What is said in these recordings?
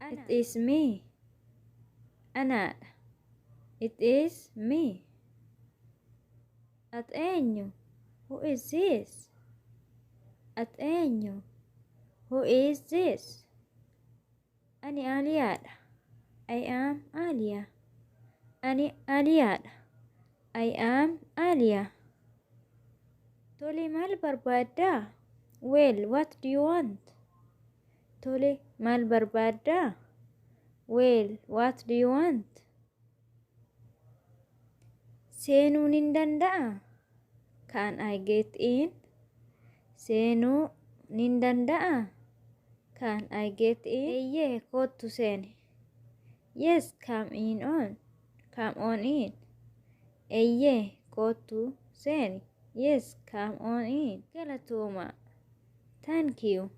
It is me. Anaadha. It is me. At eenyu? Who is this? At eenyu? Who is this? Ani Aaliyaadha. I am Aaliya. Ani Aaliyaadha. I am Aaliya. Tole maal barbaaddaa? Well, what do you want? Tole, maal barbaadda? Well, what do you want? Seenuun hin danda'a? Can I get in? Seenuu nin danda'a? Can I get in? Eeyyee, koottu seeni. Yes, come in on. Come on in. Eeyyee, koottu seeni. Yes, come on in. Galatooma. Thank you.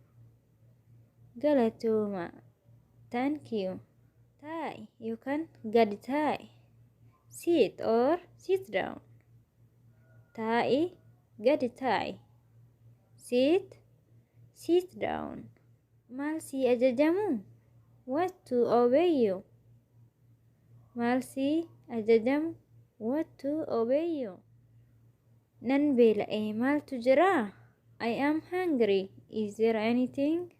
Galatooma. Thank you. Taa'i yookaan gadi taa'i. Sit or sit down. Taa'i gadi taa'i. Sit sit down. Maal sii ajajamu? What to obey you? Maal sii ajajamu? What to obey you? Nan beela'e, maaltu jira? I am hungry, is there anything?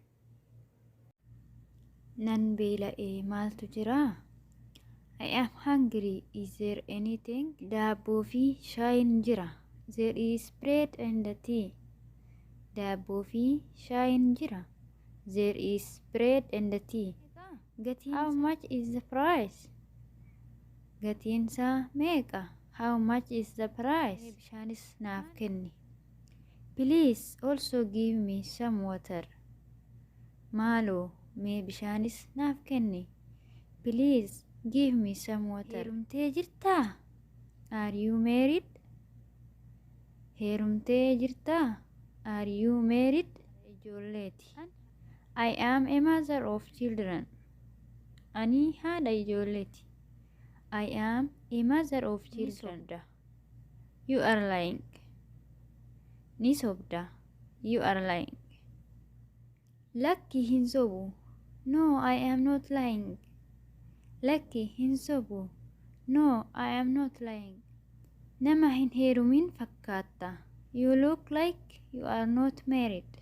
Nan beela'e, maaltu jira? I am hungry, is there anything? Daabboo fi shaayiin jira. There is bread and tea. Daabboo fi shaayiin jira. There is bread and tea. Gatiin How much is the price? Gatiin isaa meeqa? How much is the price? Mee bishaanis naaf kenni. Please also give me some water. Maaloo mee bishaanis naaf kenni. Please give me some water. Heerumtee jirtaa? Are you married? Heerumtee jirtaa? Are you married? Ijoolleeti. I am a mother of children. Ani haadha ijoolleeti. I am a mother of children. Ni sobda. You are lying. Ni sobda. You are lying. Lakki hin sobu. No, I am not lying. Lakki hin sobu. No, I am not lying. Nama hin heerumin fakkaatta. You look like you are not married.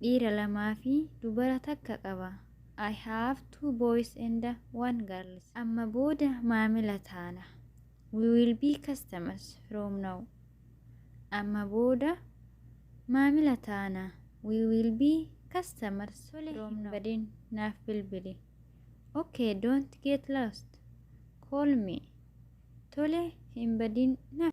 Dhiira lamaa fi dubara takka qaba. I have two boys and one girls. Amma booda maamila taana. We will be customers from now. Amma booda maamila taana. We will be customers Tole from hin now. badin naaf bilbili. Okay, don't get lost. Call me. Tole hin badin naaf